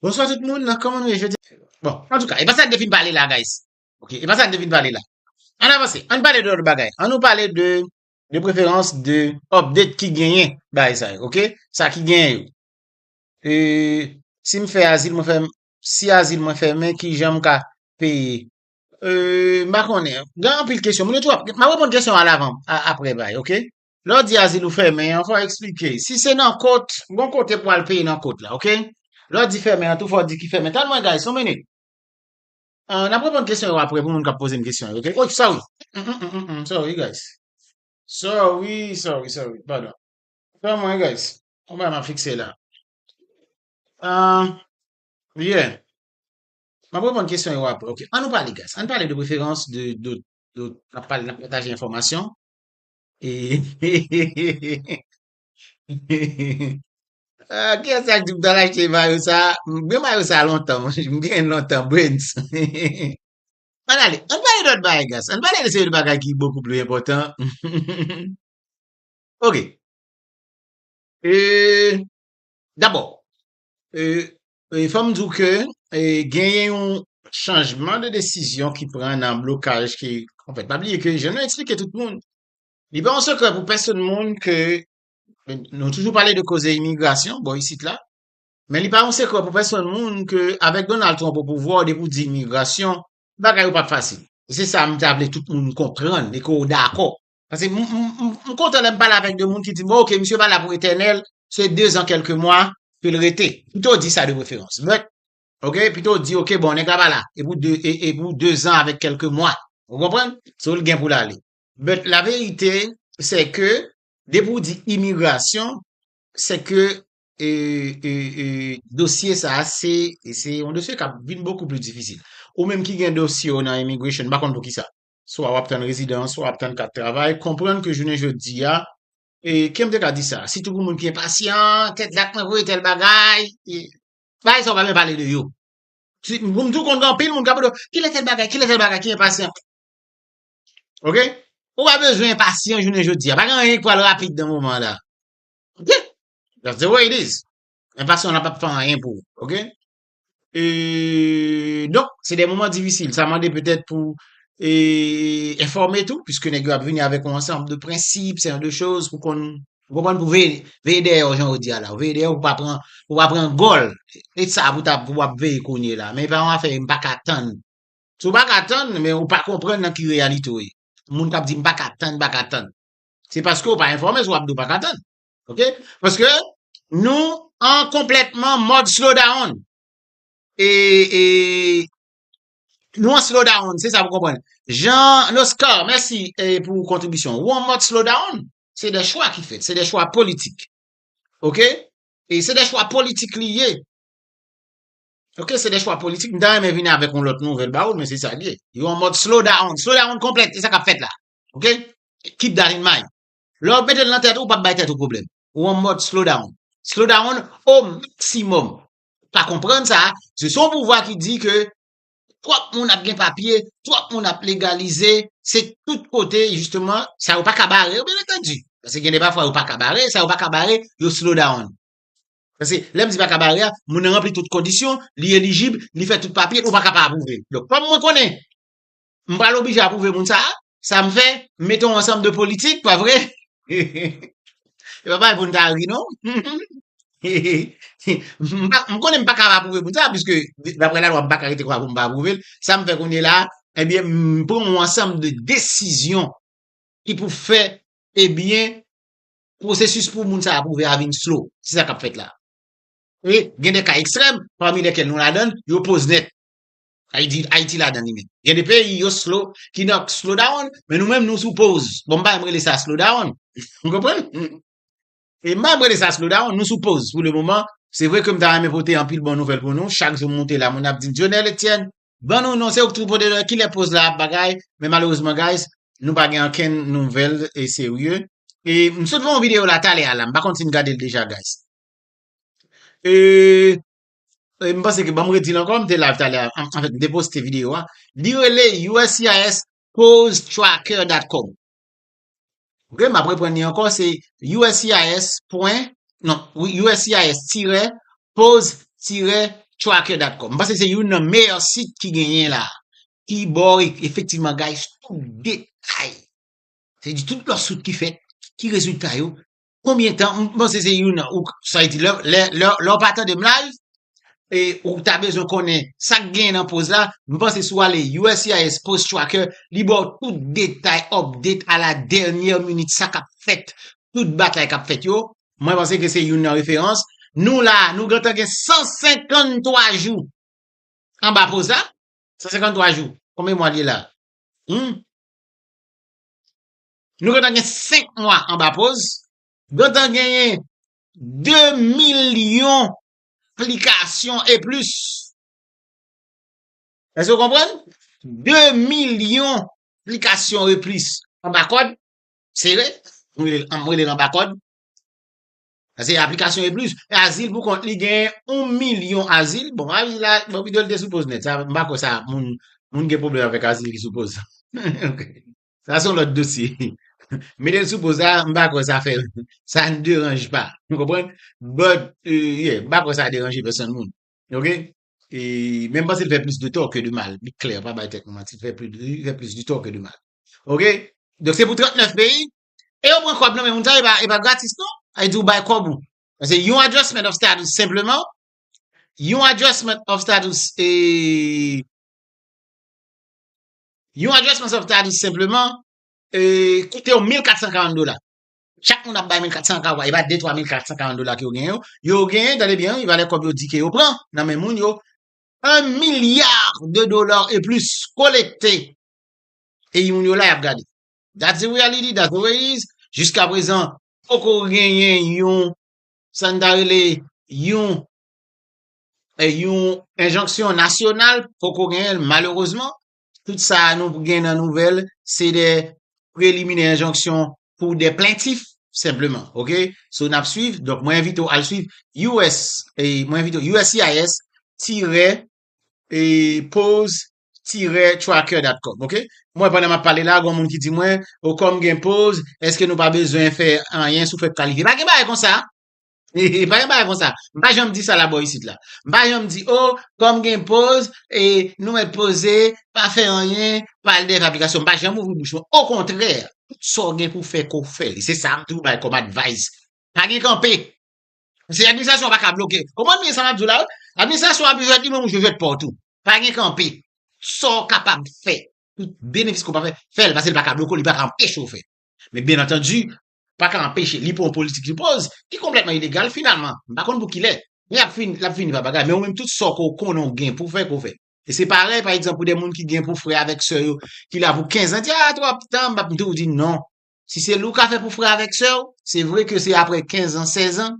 Bonswa tout moun, kòman nou ye jodi a? Bon, antouka, e pa sa n te fin pale la guys. Ok, e pa sa n te fin pale la. An avanse, an pale de lòt bagay. An nou pale de, de preferans de update ki genyen bagay sa yo, ok? Sa ki genyen yo. E, si m fè azil mwen fè, si azil mwen fèmen, ki jan m ka peye? E, m pa konnen. Gen anpil kesyon. Moun yo tou ap, m ap reponn kesyon a lavan, aprè bay, ok? Lè w di azil ou fèmen an, fò w eksplike. Si se nan kot, gon kote pou al peye nan kot la, ok? Lè w di fèmen an tou, fò w di ki fèmen. Tann mwen guys, yon minit. N ap reponn kesyon yo apre pou moun k ap poze m kesyon yo, ok? Oy, sorry! Mmmmmm, sorry guys. Sorry, sorry, sorry, padon. Tann mwen guys, gon bagay m ap fikse la. Ahh, yeah. M ap reponn kesyon yo apre, ok? An nou pale guys, an n pale de preferans, de, de, de, n ap pale, n ap pataje enfòmasyon. Kiyes sak di pou tal achte mayo sa? M gen mayo sa lontan mwen, m gen l lontan Brens. Ann ale, ann pale dòt bagay Gas, ann pale de seri de bagay ki bokou pli enpòtan. Ok. Dabò, E fòm di w ke genyen yon chanjman de desizyon ki pran nan blokaj ki, anfèt, pa bliye ke jan nou eksplike tout moun, li pa yon sekrè pou pèsonn moun ke nou toujou pale de koze imigrasyon bò isit la, men li pa yon sekrè pou pèsonn moun ke avèk Donald Trump opouvwa w depi w di imigrasyon, bagay yo pap fasil. Se sa m ta vle tout moun konprann e ke w dakò. Pase m kontan lè m pale avèk de moun ki di m ok misye pa la pou etènèl, se dezan kèlke mwa pou l rete. Pito w di sa de preferans. But, ok, pito w di ok bon nèg la pa la e pou de e pou dezan avèk kèlke mwa. Ou konprann? So l gen pou l ale. But la verite se ke depi w di imigrasyon se ke e e e dosye sa a se se yon dosye k ap vin bokou pli difisil. Ou menm ki gen dosye w nan immigration m pa konn poukisa. swa wap tann rezidans, swa wap tann kat travay, konprann ke jounen jodi a, e kèm te ka di sa, sitou pou moun ki enpasyan, tèt dat mwen voye tèl bagay, e bagay sa yo pa byen pale de yo. Si, m tou konn gen anpil moun kap mande w, kilè tèl bagay, kilè tèl bagay, ki enpasyan. Ok? Ou pa bezwen enpasyan jounen jodi a, pa gen anyen ki pral rapid nan moman la. Ok? That's the way it is. Enpasyan la pap fè anyen pou ou. Ok? e donk se de moman difisil sa mande petèt pou e enfòme tou piske nèg yo ap vini avèk yon ansanm de prensip se yon de choz pou konn ou konprann pou veye veye dèyè yo jan yo di a la veye dèyè yo pou pa pran pou pa pran gòl e sa pou ta pou ap veye kounye la men e pa yon afè m pa ka tann si w pa ka tann men ou pa konprann nan ki reyalite w ye moun k ap di m pa ka tann m pa ka tann se paske w pa enfòme si w ap di w pa ka tann Ok? Paske nou an konplètman mod slow down. E, e, nou an slow down, se sa pou konpwen. Jean Noscar, mèsi e, pou kontribisyon. Ou an mod slow down, se de chwa ki fèt, se de chwa politik. Ok? E se de chwa politik li ye. Ok, se de chwa politik. Mda remen vini avèk yon lòt nouvel ba ou, men se sa li ye. Yo an mod slow down. Slow down konplèt, e sa kap fèt la. Ok? Keep that in mind. Lè wap metel nan tèt ou, ou pap bay tèt ou pwoblèm. Ou an mòd slow down. Slow down o maksimòm. Pa konprann sa, se son pouvwa ki di ke twòp moun ap gen papye, twòp moun ap legalize, se tout kote jisteman, sa yo paka bare yo byen antandu. Paske gen de pafwa yo paka bare, sa yo paka bare, yo slow down. Paske lèm di paka bare a, moun nan ranpli tout kondisyon, li elijib, li fè tout papye, ou paka pa apwouvel. Donk kòm mwen konnen, M pral oblije apwouve moun sa a? Sa m fè? M mete yon ansanm de politik, pa vre? Se pa bagay pou n ta ri non. M konnen m pa ka apwouve moun sa a piske daprè lalwa m pa ka rete konsa pou m pa apwouve l. Sa m fè kounyela a? Ebyen m pran yon ansanm de desizyon ki pou fè ebyen pwosesis pou moun sa a apwouve a vin slow. Se sa k ap fèt la. E gen de ka ekstrèm, pami lèkèl nou ladan l, yo poz nèt. Ay di Ayiti ladan li menm. Gen de peyi yo slow, ki nan slow down, men nou menm nou sou pause. Bon m pa janm rele sa slow down. Ou konprann? E m pa janm rele sa slow down, nou sou pause pou le moman. Se vre ke m ta renmen pote anpil bon nouvèl pou nou. Chak jou m moute la moun ap di m Dionel Etienne, ban nou non, se ou k toujou pote nouvèl, kilè pause la ap bagay. Men malerezman guys, nou pa gen ankenn nouvèl e serye. E m sot fè yon video la talè a la, m pa konn si n gade l deja guys. E e m panse ke banm redi l ankò m te live talè an fèt m te poste video a li rele uscis causetracker.com ok m ap reprann li ankò se uscis pwen non uscis tirè cause tirè tracker.com m panse se youn nan meyè sit ki genyen la ki ba w efektivman gaye tout detay se di tout lòt sit ki fèt ki rezilta yo Konbyen tan, m panse se youn ou sa y di lè lè w pa tande m live e ou ta bezwen konnen sa k gen nan poz la, m panse si w ale uscis post tracker li ba w tout detay update a la dènyè minit sa k ap fèt tout batay k ap fèt yo, mwen panse ke se youn nan referans, nou la nou gentan gen 153 jou anba poz la, 153 jou konbyen mwa li ye la? Humm. Nou gentan gen 5 mwa anba poz. Gentan genyen 2 milyon plikasyon e plis. Èske ou konprann? 2 milyon plikasyon e plis anba kòd. Sere, m rele l anba kòd. Sa se aplikasyon e plis. E azil pou kont li genyen 1 milyon azil. Bon, azil la, bon pito l te sou poz nèt. M pa kwè sa moun gen pwoblèm avèk azil ki sou poz. Sa son lòt dosye. Mete l sou poz la, m pa kwè sa fè, sa n deranj pa. Ou konprann? But, yeah, m pa kwè sa deranje pèsonn moun. Ok? E, men m panse l fè plis de tò ke de mal. Li klè, pa bay tèt nou manti. Li fè plis, li fè plis de tò ke de mal. Ok? Donk se pou 39 peyi. E yo pran kòb nan men moun sa yo, e pa, e pa gratis non. Sa vle di ou bay kòb ou. Pase yon adjustment of status senpleman, yon adjustment of status e, Yon Address Months of Talis senpleman koute w 1440 dola. Chak moun ap bay 1400 ak epa 2 3 1440 dola ke yo genyen yo. Yo genyen, tande byen wi, valè kòb yo di ke yo pran nan men moun yo, 1 milliard de dollars et plus kolekte epi moun yo la yap gade. That's the reality, that's the way it is. Jiska prezan poko genyen yon, sa n ta rele, yon yon enjonksyon nasyonal, poko genyen l malerezman, tout sa a nou gen nan nouvèl se de preliminè enjonksyon pou de plentif senpleman ok, so n ap swiv, donk mwen envite w al swiv us mwen envite w uscis tirè pose tirè tracker dat com ok, mwen pandan m ap pale la gon moun ki di mwen, o kòm gen pose èske nou pa bezwen fè anyen sou fèt kalifye, pa gen bagay konsa. Hehe pa gen bagay konsa. M pa janm di sa la bò isit la. M pa janm di oh kòm gen poz e nou mèt poze, pa fè anyen, pale dèyè fabrikasyon. M pa janm ouvri bouch mwen. Okontrè, tout sa w gen pou w fè ke w fè li. Se sa m toujou bay kòm advice. Pa gen kanpe. Paske administrasyon an pa ka bloke w. Konprann byen sa m ap di w la wi. Administrasyon an ap jwèt li menm ou jwe jwèt pa w tou. Pa gen kanpe. Tout sa w kapab fè, tout benefis ke w kapab fè, fè l paske li pa ka bloke w, li pa ka anpeche w fè. Men byen antandu, pa ka anpeche li pran yon politik li poz ki konplètman ilegal finalman m pa konn pou kilè men ap fini l ap fini pa bagay men ou menm tout sa ke w konnen w gen pou w fè ke w fè e se parèy pa egzanp pou de moun ki gen pou frè avèk sè yo ki la pou kenzan di a twòp tan m ap di w di non si se l ou ka fè pou frè avèk sè w se vre ke se aprè kenzan sèzan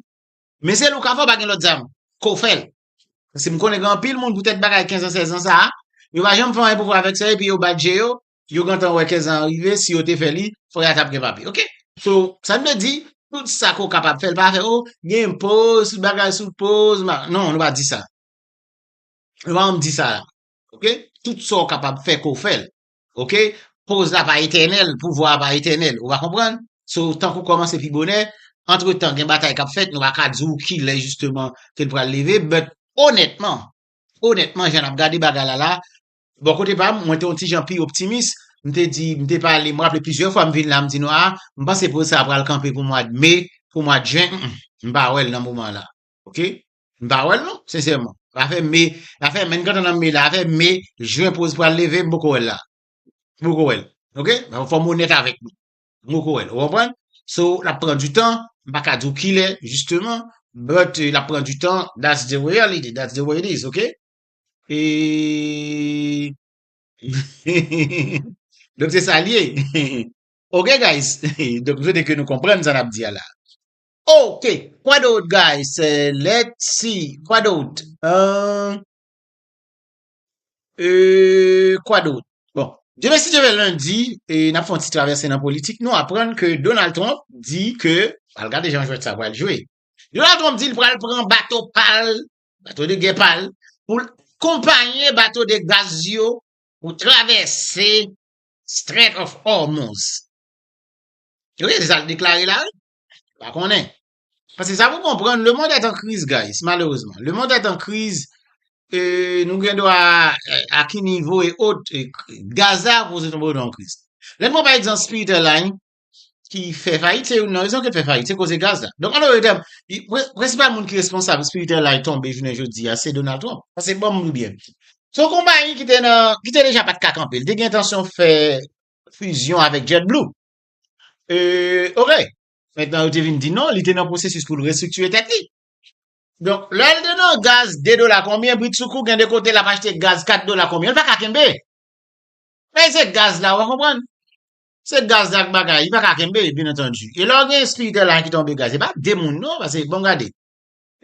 men se l ou ka fè w pa gen lòt zam ke w fè l paske m konnen gen anpil moun poutèt bagay kenzan sèzan sa a yo pa janm fè anyen pou frè avèk sè yo epi yo bat je yo Yo gentan wè kèsa a rive si yo te fè li fò ya tap gen papye ok. So sa nou vle di tout sa ke w kapab fè l pa afè oh gen poz tout bagay sou poz nan nou pa di sa nou pa janm di sa la ok tout sa w kapab fè ke w fè l ok poz la pa etènèl pouvwa a pa etènèl ou va konprann so tank ou kòmanse pi bonè antretan gen batay kap fèt nou pa ka di w kilè jisteman ke l pral leve but onètman onètman jan nap gade bagay la la Bò kote pa m, mwen te yon ti jan pi optimis. M te di, m te pale, m raple plizyè fwa m vin la, m di nou a, m panse pwojè sa a pral kanpe pou mwad me, pou mwad jen, m, m pa wè l nan moman la. Ok? M pa wè l non, sensèman. Afè me, afè men kantan nan me la, afè me, jen pwojè pral leve, m poko wè l la. M poko wè l. Ok? Fò m onèt avèk nou. M poko wè l. Ou konprann? So, l ap pran di tan. M pa ka di w kilè, jisteman. But, l ap pran di tan. That's the reality. That's the way it is. Ok? Donk se sa l ye. Ok guys, donk m swete ke nou konprann sa n ap di a la. Ok, kwa dout guys, let's see, kwa dout? Kwa dout? Bon, demen si Dye vle lendi, n ap fè yon ti travèse nan politik, nou aprann ke Donald Trump di ke, al gade jan jwèt sa pral jwe. Donald Trump di l pral pran bato pa l Bato de gè pa l pou l akonpanye bato de gaz yo pou travèse Strait of Hormuz. Yo gen sa l deklare la wi. Pa konnen. Paske sa pou konprann le mond est en crise guys malerezman. Le mond est en crise e nou gen dwa a ki nivo e ot Gaza pou se nou pou nou an kriz. Lè n pran pa egzanp Spirit Airlines ki fè fayit, se youn nan rezon ke fè fayit, se koze gaz la. Donk an lòt tèm, prensipal moun ki responsab spiritèl la tonbe jounen jodi a, se Donald Trump. Pase ban m li byen. Se yon konpayi ki te nan, ki te deja pa t ka kanpe, li te gen entansyon fè fizyon avèk Jet Blue. E, ok. Mentnan yo te vin di non, li te nan pwosesis pou l restriktire tèt li. Donk, lè l te nan gaz 2 dola konbyen, bridsoukou gen de kote l ap achte gaz 4 dola konbyen, l pa ka kenbe. Peze gaz la, ou konprann? Se gaz la ak bagay, li pa ka kenbe, byen antandu. E lè w gen espiritè la ki tonbe gaz, se pa de moun non, pase bon gade.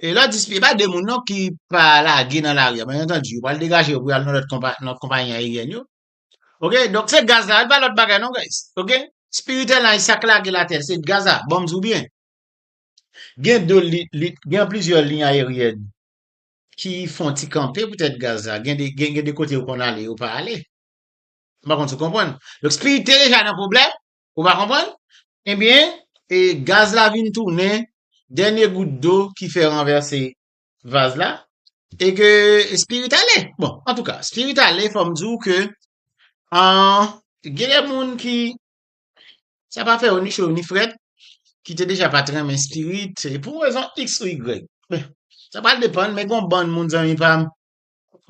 E lè w di se pa de moun non ki pa lage nan lari a, byen antandu, yo pral degaje yo pou yo al nan lòt konpa, nan konpayi ayeryèn yo. Ok, donk se gaz la, li pa lòt bagay non guys. Ok, espiritè la, sa k lage l atè, se gaz la, bon m di w byen. Gen de li, li, gen plizyè liy ayeryèn ki fon ti kanpe poutèt gaz la, gen de, gen de kote yo konn ale, yo pa ale. M pa konn si w konprann. Donk Spirit te deja nan pwoblèm, ou pa konprann? Ebyen, e gaz la vin tounen dènye gout dlo ki fè ranvèse vaz la, e ke Spirit ale. Bon, antouka, Spirit ale, fò m di w ke gen de moun ki, sa pa fè yo ni cho ni frèt, ki te deja pa t renmen Spirit, pou rezon iks ou igrèg. Sa pral depann, men gen yon bann moun zanmi pa m,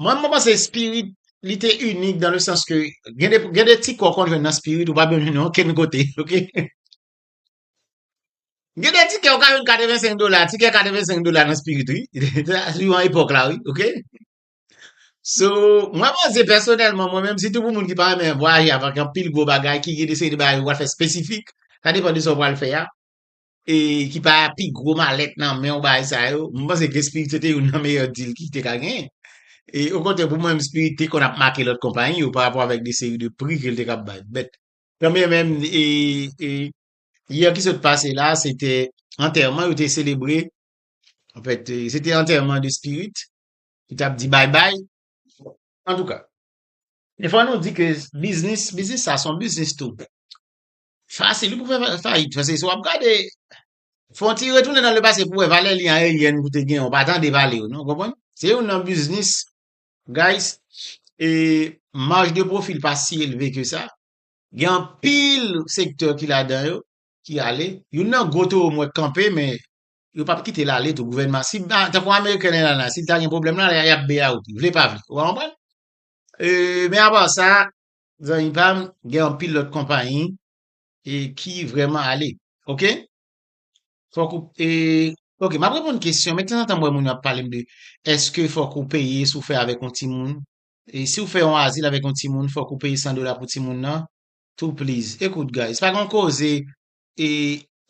Mwen mwen panse spirit li te unik dan le sans ke gen de gen de ti kò kon jwenn nan spirit ou pa bèm jwenn okenn kote, ok. Gen de tikè ou ka jwenn 85 dola, tikè 85 dola nan spirit wi. Sou yon epòk la wi, ok. So, mwen panse pèsonèlman mwen menm sitou pou moun ki pa renmen vwayaje avèk anpil gwo bagay ki gen de seri de bagay ou pral fè spesifik, sa depan de sa ou pral fè a. e ki pa pi gwo malèt nan men w bagay sa yo, mwen panse ke Spirit se te youn nan meyè deal ki te ka genyen. E okontrè pou mwen menm Spirit te konn ap make lòt konpayi yo pa rapò avèk de seri de pri ke l te kab bay. Bèt kanbyen menm e e yè ki sot pase la se te antèman yo te selebre anfèt se te antèman de Spirit ki t ap di bay bay antouka. E fò nou di ke biznis, biznis sa s on biznis tou. Fasil wi pou fè fayit pase wap gade fon ti retounen nan le pase pou wè valè liy ayeryèn ou te gen ou pa tande pale yo non ou konprann se youn nan biznis guys e maj de pwofi l pa si elve ke sa gen anpil sektè ki ladan yo ki ale youn nan gwo towo m wè k kanpe men yo pap kite l ale tou gouvènman si tankou ameriken nan la si l ta gen pwoblèm la yap beyaou vle pa vle ou konprann e men apa sa Zanmi pam gen anpil lot konpayi e ki vreman ale ok fok ou e ok map reponn kesyon men tanzantan mwen moun yo ap palem de eske fok ou peye sou fè avèk yon timoun e si ou fè yon azil avèk yon timoun fok ou peye 100 dola pou timoun nan tou pliz ekout guys pa gon koze e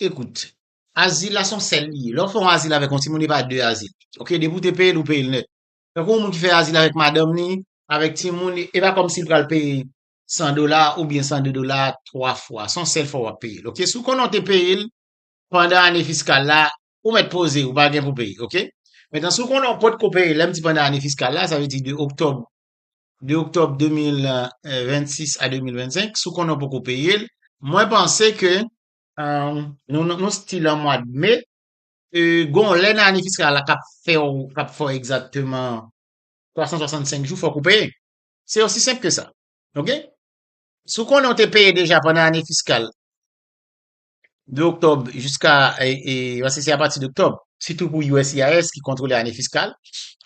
ekout azil la son sèl li ye lè ou fè yon azil avèk yon timoun e pa 2 azil ok depi ou te peyel ou peyel nèt Tankou yon moun ki fè azil avèk madanm li, avèk timoun li, e pa kòmsi l pral peye 100 dola oubyen 102 dola twa fwa. Se yon sèl fwa w ap peye l, oke. Si w konnen w te peye l pandan ane fiskal la, ou mèt poze, ou pa gen pou peye, oke. Mentnan, si w konnen w potko peye, lè m di pandan ane fiskal la, sa vle di de oktòb, de oktòb 2026 a 2025, si w konnen w poko peye l, mwen panse ke nou stil an mwad me, Gon lè nan ane fiskal la kap fè w, kap fè w egzakteman 365 jou fòk ou peye. Se osi senp ke sa. Ok? Si w konnen w te peye deja pandan ane fiskal de oktòb jiska, paske se apati de oktòb, sitou pou uscis ki kontwole ane fiskal,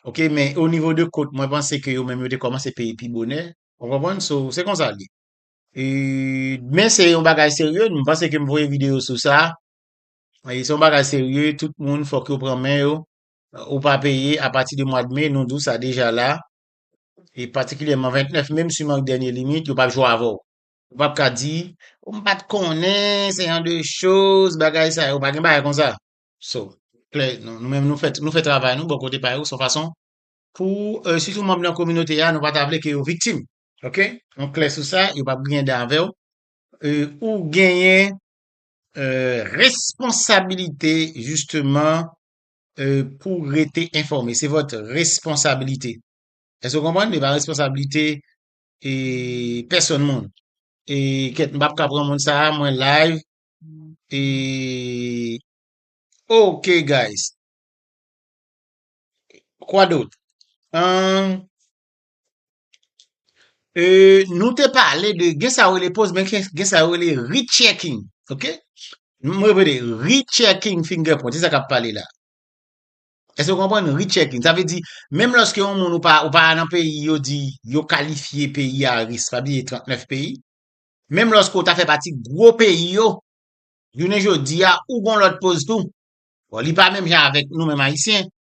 ok, men o nivo de kont mwen panse ke yo menm yo te kòmanse peye pi bonè, ou konprann? So, se konsa l ye. Men se yon bagay serye, m panse ke m voye videyo sou sa. Se yon bagay serye, tout moun fòk yo pran men yo. Ou pa peye apati de mwad me, nou di w sa deja la. E patikilyèman 29 me, m siman k dènye limit, yo p ap jwe avè w. Ou p ap ka di, m pa t konnen, se yon de choz, bagay sa yo. Pa gen bagay konsa. So, klè, nou menm nou fè travay nou bò kote pa yo, son fason pou sitou manm nan kominote a, nou pa ta vle ke yo viktim. Ok? Nou klè sou sa, yo p ap griyen dan avè w. Ou genyen Responsabilite jisteman pou rete enfòme. Se vòt responsabilite. Èske w konprann? E pa responsabilite e pèsòn moun. E kèt m pap ka pran moun sa a, mwen live. E ok guys. Kwa dot? An. Nou te pale de gen sa yo rele poz men gen sa yo rele rechecking ok m repete rechecking finger print se sa k ap pale la èske w konprann rechecking sa vle di menm lòske yon moun ou pa ou pa nan peyi yo di yo kalifye peyi a risk pa bliye 39 peyi menm lòske ou ta fè pati gwo peyi yo jounen jodi a ou gon lòt poz tou bon li pa menm jan avèk nou menm ayisyen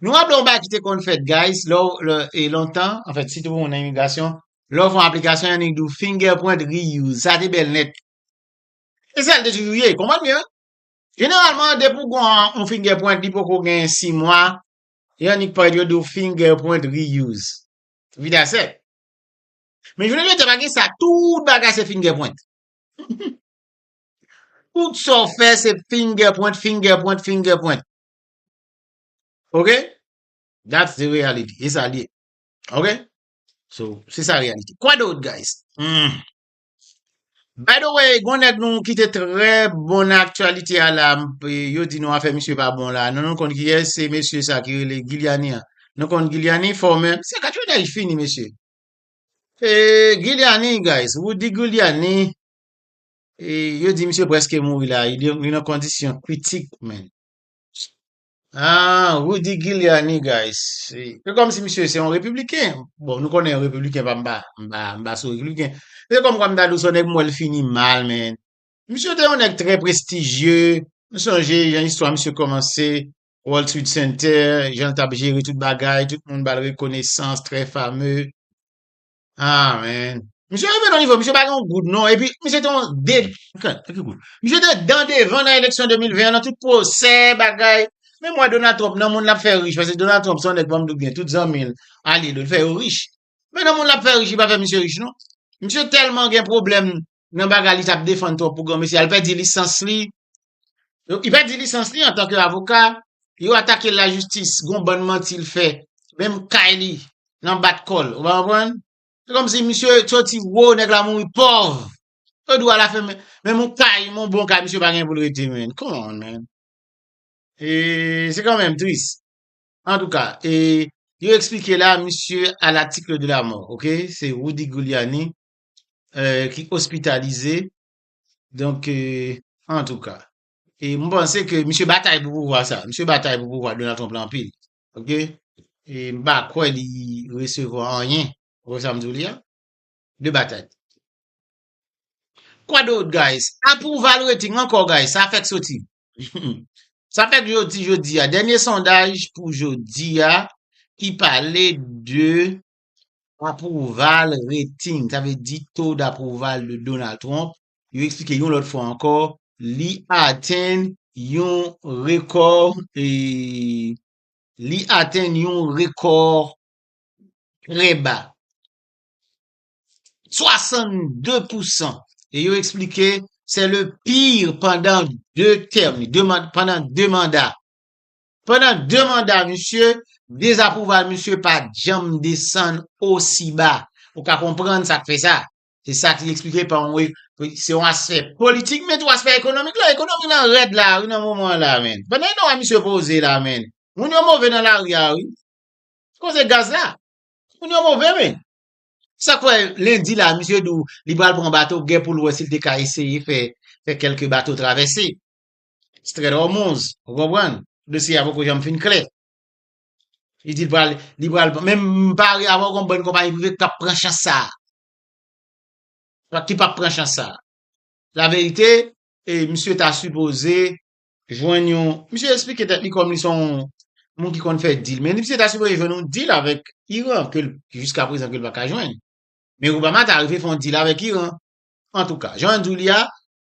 Nou raple yon bagay ki te konn fèt guys, lè e lontan, an fèt sitou pou moun nan imigrasyon, lè ou fè yon aplikasyon yon nèg di ou fingerprint reuse, sa te bèl nèt. E sa l te toujou ye, konprann byen. Jeneralman depi ou gon yon fingerprint li poko gen 6 mwa, yon nèg parèt yo di ou fingerprint reuse. Vida sèk. Men jounen jodi a pa gen sa, tout bagay se fingerprint. Tout sa ou fè se fingerprint, fingerprint, fingerprint. Ok? That's the reality. E sa li ye. Ok? So, se sa reality. Kwa dot, guys? Hmm. By the way, gwen nèk nou ki te trè bon nan aktuality a la, yo di nou afe misye pa bon la. Nou nou konn ki yè, se mesye sa ki rele Giuliani an. Nou konn Giuliani fò men, se kat yo dèy fini mesye. E Giuliani, guys, wou di Giuliani, e yo di misye preske mouri la, li nan kondisyon kritik men. Aah Rudy Giuliani guys se kòm si misye se yon repibliken bon nou konnen yon repibliken pa m pa m pa m pa sou repibliken se kòm kwa m ta di w se yon nèg m wè l fini mal men misye te yon nèg trè prestijye m sonje jan istwa misye kòmanse World Trade Center jan l t ap jere tout bagay tout moun ba l rekonesans trè fame Ah men. Misye rive nan nivo, misye pa gen yon goud non, epi misye te yon de, misye te dan devan nan eleksyon 2020 an nan tout pwosè, bagay, men mwa Donald Trump nan moun lap fè rich, pase Donald Trump se yon nèg banm di w byen, tout zanmi l, alye l yo, l fè yo rich, men nan moun lap fè rich li pa fè misye rich non, misye tèlman gen pwoblèm nan bagay li tap defann trop pou granmesi a, li pèdi lisans li, li pèdi lisans li antan ke avoka, yo atake l la jistis, gon bann manti l fè, menm kay li, nan bat kò l, ou pa konprann? Se kòm si misye soti wo, nèg la mouri pòv, yo di w ala fen men, menm yon kay, yon bon kay misye pa gen pou l rete menn, come on man, e se kan menm tris, antouka, e yo eksplike la misye a latikle de la mò, ok, se Rudy Guiliani ki ospitalize, donk antouka. E m panse ke misye batay pou pouvwa sa, misye batay pou pouvwa Donald Trump la anpil, ok, e m pa kwè li resevwa anyen, ou konprann sa m di w li a? de batay. Kwa dot guys? Approval rating ankò guys, sa fèk soti. Sa fèk soti jodi a, dènye sondaj pou jodi a ki pale de Apwouval reting, sa vle di to dapwouval de Donald Trump, yo eksplike yon lòt fwa ankò, li atenn yon rekò e li atenn yon rekò trè ba, 62 pou san. E yo eksplike se le pire pandan 2 tèm, pandan 2 manda. Pandan 2 manda misye, dezapwouval misye pa janm desann osi ba. Ou ka konprann sa k fè sa. Se sa k li eksplike pa yon e, se yon aspè politik men tou aspè ekonomik la. Ekonomi lan rèd la wi nan moman an la men. Pandan yon a misye poze la men. Moun yo move nan lari a wi. Koze gaz la. Moun yo move men. Sa k fè lendi la misye di w li pral pran bato gè pou l wè si l te ka eseye fè kèlke bato travèse. Stret Hormuz, ou konprann? Dosye a poko janm fin klè. Li di pral, li pral, menm pari avon kon bon konpayi prive kap pran chans sa. Ki pap pran chans sa. La verite, e misye ta sipoze jwenn yon, misye esplike tèt li kom li son moun ki konn fè dil, men misye ta sipoze jwenn yon dil avèk Iran ke jiska prezan ke l pa ka jwenn. Men Obama ta rive fon dil avèk Iran. Antouka, jan an di w li a,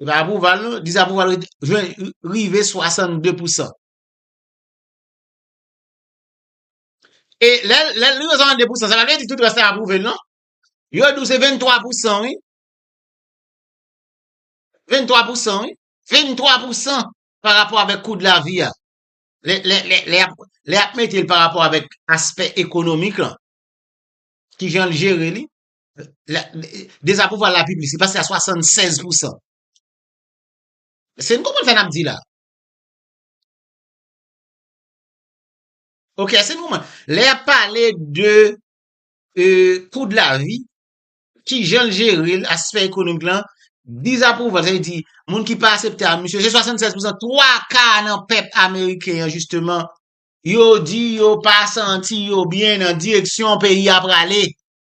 Se pa apwouval non, dizapwouval rete, jwenn, rive 62 pou san. E lè, lè l rive 62 pou san, sa pa vle di tout rès la apwouve l non. Yo di w se 23 pou san wi. 23 pou san wi. 23 pou san pa rapò avèk kou de la vi a. Lè, lè, lè, lè y ap, lè y ap mete l pa rapò avèk aspè ekonomik lan, ki jan l jere li, Dezapwouval la pi plis, li pase a 76 pousan. Èske nou konprann sa n ap di la? Ok, èske nou konprann? Lè y ap pale de kou de lavi, ki jan l jere l, aspè ekonomik lan, dezapwouval, sa vle di, moun ki pa asepte a misye, se 76 pousan, 3 ka nan pèp ameriken an, jisteman, yo di yo pa santi yo byen nan direksyon peyi a prale.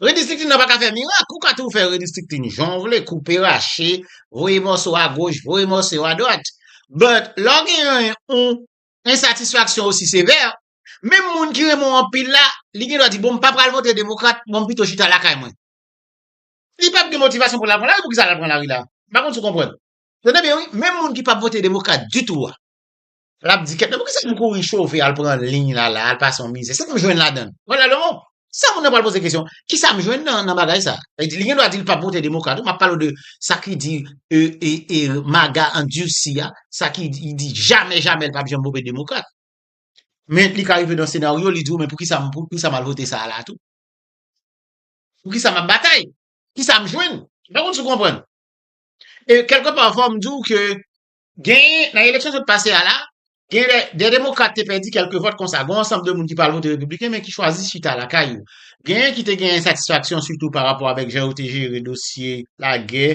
Redistriktin nan pa ka fè mirak, ou ka toujou fè redistriktin jan w vle, koupe rache, voye mòso a goch, voye mòso yo a dwat, but lè w gen yon ensatisfaksyon osi sevè, menm moun ki renmen w anpil la, li gen dwa di bon m pa pral vote demokrat, bon m pito chita lakay mwen. Li pap gen motivasyon pou l al pran lari, pou kisa l al pran lari la? M pa konn si w konprann. Tande byen wi, menm moun ki pap vote demokrat ditou a. Lap di kèt nan pou kisa nou kouri chove al pran liy la la al pase yon mizè sa nou jwenn ladann wala lò sa moun nan pral poze kesyon kisa m jwenn nan nan bagay sa e di li gen dwa di l pap vote demokrat wi map pale w de sa ki di e e e maga andursi a sa ki di di jamè jamè l pap janm vope demokrat men li ka rive nan senaryo li di w men pou kisa m pou kisa m al vote sa a la tou pou kisa map batay kisa m jwenn m pa konn si w konprann e kèlke pa fò m di w ke Genyen, nan eleksyon sot pase a la, gen de, de demokrat te pèdi kèlke vòt konsa, gon ansanm de moun ki pral vote repibliken men ki chwazi chita lakay yo. Genyen ki te gen ensatisfaksyon sitou pa rapò avèk jan yo te jere dosye lagè,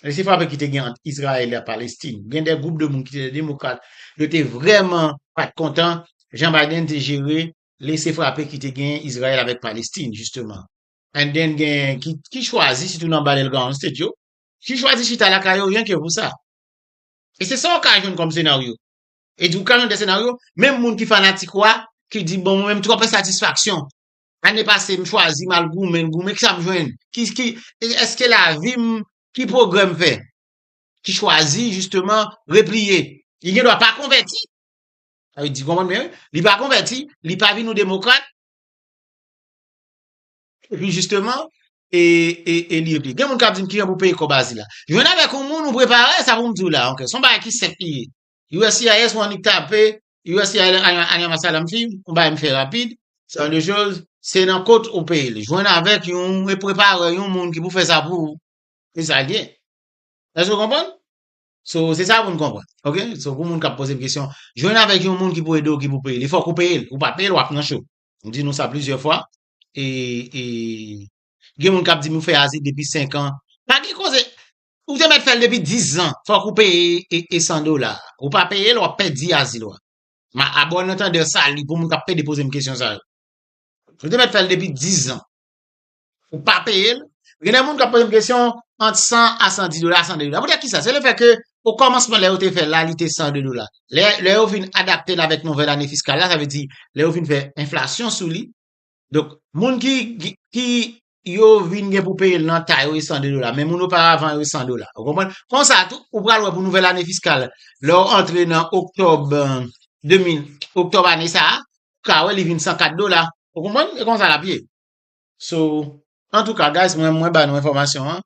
lese frape ki te gen ant Izrayèl ak Palestin. Gen de gwoup de moun ki te de demokrat, yo te vrèman pa t kontan jan Biden te jere lese frape ki te gen Izrayèl avèk Palestin, jisteman. And then genyen ki, ki chwazi, sitou nan Battleground State yo, ki chwazi chita lakay yo ryen ke pou sa. E se sa ou ka jwenn kòm senaryo. E di ou ka jwenn de senaryo, menm moun ki fanatik ou a, ki di bon mwen menm twòp ensatisfaksyon. Ane pase m chwazi m al goumen, goumen, kisa m jwenn? Ki, ki, èske lavi m, ki pwogrè m fè? Ki chwazi jisteman repliye. Li gen dwa pa konvèti. Sa vle di, konprann byen wi, li pa konvèti, li pa vin yon demokrat. Epi jisteman, e, e, e li epi. Gen moun kap di m kijan pou peye kòb azil la. Jwenn avèk yon moun ou prepare sa pou m di w la, ok. Son bagay ki senp li ye. USCIS ou annik tape USCIS Anya Masalam Fee, yon bagay m fè rapid. Se yon de choz, se nan kot ou peye li. Jwenn avèk yon, e prepare yon moun ki pou fè sa pou ou. Se sa l ye. Èske w konprann? So, se sa pou n konprann. Ok? So, pou moun kap poze m kesyon, jwenn avèk yon moun ki pou ede w ki pou peye li. Fòk ou peye l. Ou pa peye l, wap nan cho. M di nou sa plizyè fwa. e e gen moun kap di nou fè azi depi 5 an pa gen koze ou te mèt fèl depi 10 zan fòk ou peye e e 100 dola ou pa peyel wap pèdi azil ou a ma a bon entendeur sali pou moun kap pede pozem kesyon sa yo ou te mèt fèl depi 10 zan ou pa peyel gen de moun kap pozem kesyon ant 100 a 110 dola a 102 dola poutèt kisa se le fè ke O kòmansman lè yo te fè la li te 102 dola. Lè lè yo vin adapte l avèk nouvèl ane fiskal la, sa vle di lè yo vin fè enflasyon sou li, donk moun ki ki yo vin gen pou peye l nan ta yo e 102 dola men moun oparavan yo e 100 dola. Ou konprann? Konsa tou, ou pral wè pou nouvèl ane fiskal lè w antre nan oktòb 2000, oktòb ane sa a, ou ka wè li vin 104 dola. Ou konprann? E konsa l ap ye. So, antouka guys mwen mwen ba nou enfòmasyon an.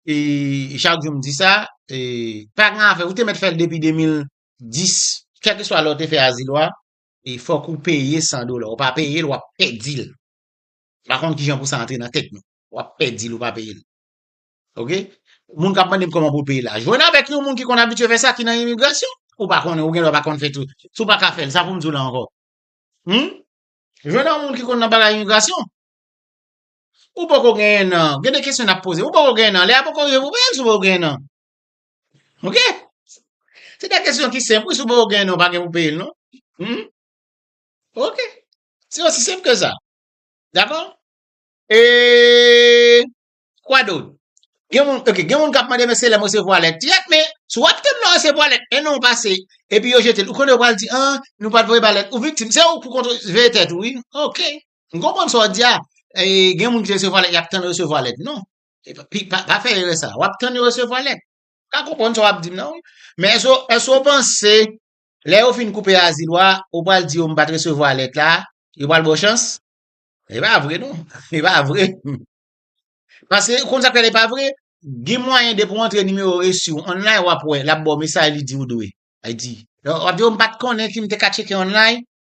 E chak jou m di sa, e pa gen afè, ou te mèt fè l depi 2010, kèlkeswa lè ou te fè azil ou a, e fòk ou peye 100 dola. Ou pa peye l, w ap pèdi l. M pa konn ki jan pou sa antre nan tèt nou. W ap pèdi l, ou pa peye l. Ok? Moun k ap mande m kòman pou l peye l la. Jwenn avèk yon moun ki konn abitye fè sa, ki nan imigrasyon. Ou pa konnen, ou gen dwa pa konn fè tou. Si w pa ka fè l, sa pou m di w la ankò? Humm? Jwenn yon moun ki konn nan bagay imigrasyon. Ou poko genyen nan. Gen de kesyon nap poze. Ou poko genyen nan. Lè a poko rive pou peye l si w poko genyen nan. Ok? Se de kesyon ki senp wi si w poko genyen nan ou pa gen pou peye l non. Hum? Ok. Se osi senp ke sa. Dakò? E Kwa dot? Gen moun, ok, gen moun kap mande men se lè m resevwa lèt. Yep men, si w ap tann lè w resevwa lèt, 1 an pase, epi yo jete l, ou konnen yo pral di, an, nou pat voye ba lèt, ou viktim. Se ou pou kontr, veye tèt ou wi. Ok. M konprann sa w di a, gen moun ki resevwa lèt, y ap tann resevwa lèt. Non. Pa fè erè sa a. W ap tann yo resevwa lèt. M pa konprann sa w ap di m nan wi. Men èske w panse lè yo fin koupe azil ou a, ou pral di yo m pa t resevwa lèt la, yo pral ba w chans? E pa vre non. E pa vre. Paske ou konn sa k fè l e pa vre? Gen mwayen depi w antre nimewo resi w online w ap wè l ap ba w mesaj li di w dwe. Li di, w ap di yo m pa t konnen si m te ka tcheke online.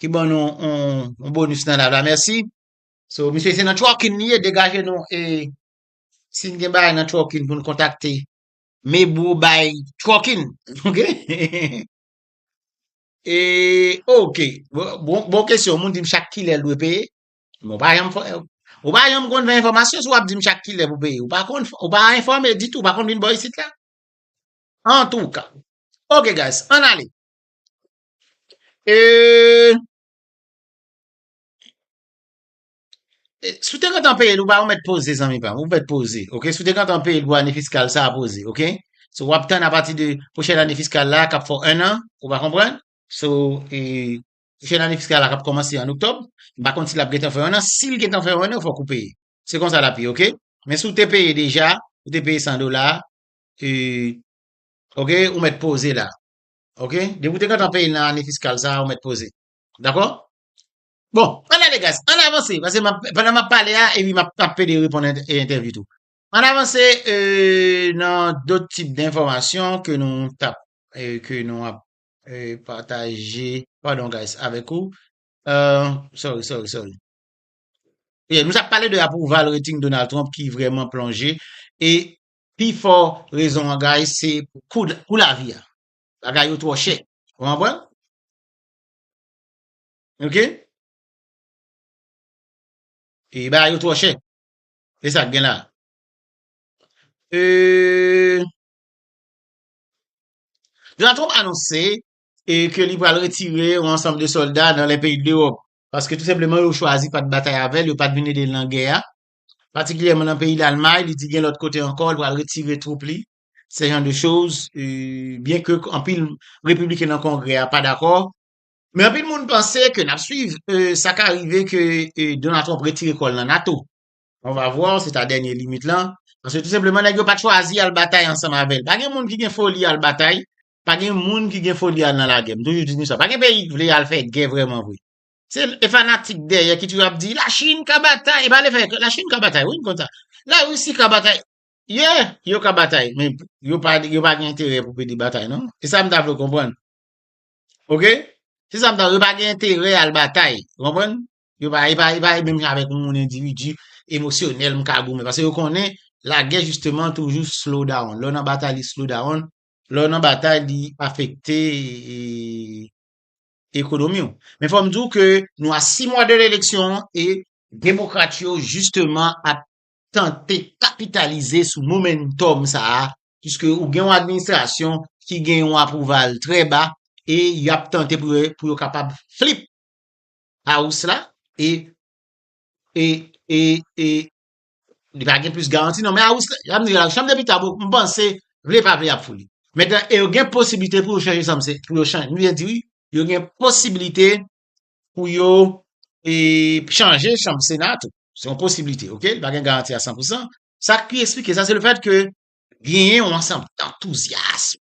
ki ban nou yon bonus nan live la merci. So misye se nan trucking li ye degaje nou e sin gen bagay nan trucking pou nou kontakte Mebro by trucking ok e ok bon kesyon moun dim chak kilè l dwe peye mwen pa janm fè ou pa janm konn fè enfòmasyon si w ap dim chak kilè pou peye ou pa konn ou pa enfòme ditou ou pa konn vin bò isit la antouka ok guys ann ale. Si w te gentan peye dwàn ou mèt poze zanmi pa m, ou mèt poze ok, si w te gentan peye dwàn ane fiskal sa a poze ok, so w ap tann apati de pwochèn ane fiskal la k ap fè w 1 an ou pa konprann, so pwochèn ane fiskal la k ap kòmanse an oktòb m pa konn si l ap gentan fè w 1 an, si l gentan fè w 1 an fòk ou peye, se konsa l ap ye ok, men si w te peye deja, ou te peye 100 dola e ok ou mèt poze la. Ok, depi ou te gentan peye nan ane fiskal sa a ou mèt poze. Dakò? Bon, an n ale guys, an n avanse pase m ap, pandan m ap pale a epi m ap ap pede reponn entèvyou tou. An n avanse nan dot tip denfòmasyon ke nou t ap ke nou ap pataje, padon guys, avèk ou. Sorry, sorry, sorry. Nou t ap pale de apwouval rating Donald Trump ki vrèman plonje e Pi fò rezon an guys se pou kou kou lavi a. Bagay yo twò chè. Ou konprann? Ok? E bagay yo twò chè. E sa k gen la? Euh Donald Trump anonse e ke li pral retire yon ansanm de solda nan lè peyi de l'Europe. Paske tou senpleman yo chwazi pat batay avèl, yo pat vin edel nan gè a. patikilyèman nan peyi Lalmay, li di gen lòt kote ankò li pral retire twoup li, se jan de choz, byen ke anpil repibliken nan kongrè a pa dakò, men anpil moun panse ke nap swiv, sa ka rive ke Donald Trump retire kò l nan nato, on va voir, se ta dènye limit lan, paske tou senpleman nèg yo pat chwazi al batay ansanm avè l, pa gen moun ki gen foli al batay, pa gen moun ki gen foli al nan lagè, m toujou di nou sa, pa gen peyi k vle al fè gè vrèman vre, Se e fanatik dèyè ki toujou ap di la Chine ka batay, e pa le fè la Chine ka batay wi m konn sa. La Russie ka batay. Yeah, yo ka batay, men yo pa yo pa gen enterè pou pede batay non. E sa m ta vle w konprann. Ok? Se sa m ta yo pa gen enterè al batay, ou konprann? Yo pa e pa e pa e menm jan avèk yon moun endividi emosyonèl m ka goumen pase yo konnen lagè jisteman toujou slow down. Lè w nan batay li slow down, lè w nan batay li afekte ekonomi w. Men fò m di w ke nou a 6 mwa de eleksyon e demokrat yo jisteman ap tante kapitalize sou momentum sa a puiske ou gen yon administrasyon ki gen yon aprouval trè ba e y ap tante pou yo kapab flip house la e Li pa gen plis garanti non. Men a Wisconsin, yap di la, chanm depite a, m panse, vle pa vle yap foule. Metan, e yo gen posibilite pou yo chanje sa m se, pou yo chanje, m vle di wi, yo gen posibilite pou yo e chanje chanm sena tou. Se yon posibilite, ok? Li pa gen garanti a 100 pou 100. Sa ki esplike sa, se le fèt ke genyen yon ansanm antouzyasm